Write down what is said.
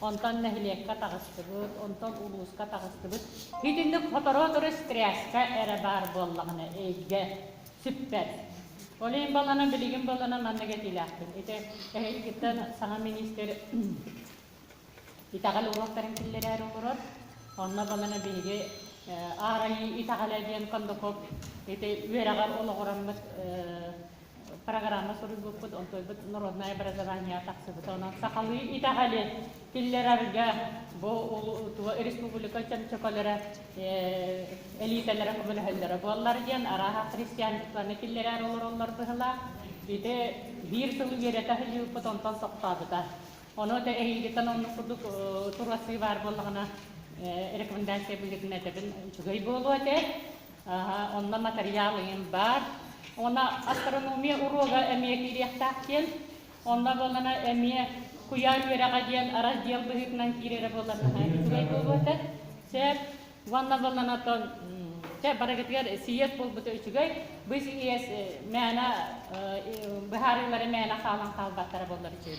Онтон нэһилиэккэ таҕыстыбыт, онтон улууска таҕыстыбыт. Итинник сотору-сотору стресскэ эрэ баар буоллаҕына эйгэ сүппэт. Ол иһин балана билигин балана маннык этиилээхпин. Ити эһигиттэн саҥа миниистир итэҕэл уруоктарын киллэрээри олорор. Онно балана биһиги Аар Айыы итэҕэлэ диэн кондуков ити үөрэҕэр олоҕураммыт программа суруйбуппут, онтойбут народнай образование тахсыбыта. Онон сахалыы итэҕэли киллэрэргэ бу республика чөмчөкөлөрө элитэлэрэ көмөлөһөллөрө буоллар диэн арааһа христианствоны киллэрэр олороллор быһылаах. Ити биир сыл үөрэтэ сылдьыппыт онтон соқтаабыта. Ону да эһиигиттэн онну курдук турасыы баар буоллаҕына рекомендация быһыытын этэбин үчүгэй буолуо этэ. Ааһа, онно матырыйаал ыйын баар. Уонна астрономия уруога эмиэ киириэхтээх диэн, онно буоллана эмиэ куйаа үөрэҕэ диэн араздьыал быһыытынан киирэрэ буоллана үчүгэй буолуо этэ. Сөп. Уонна буоллана оттон чэ барыгытыгар сийиэс буолбута үчүгэй. Бу сийиэс мээнэ быһаарыылары мээнэ хаалан хаалбаттара буоллар үчүгэй.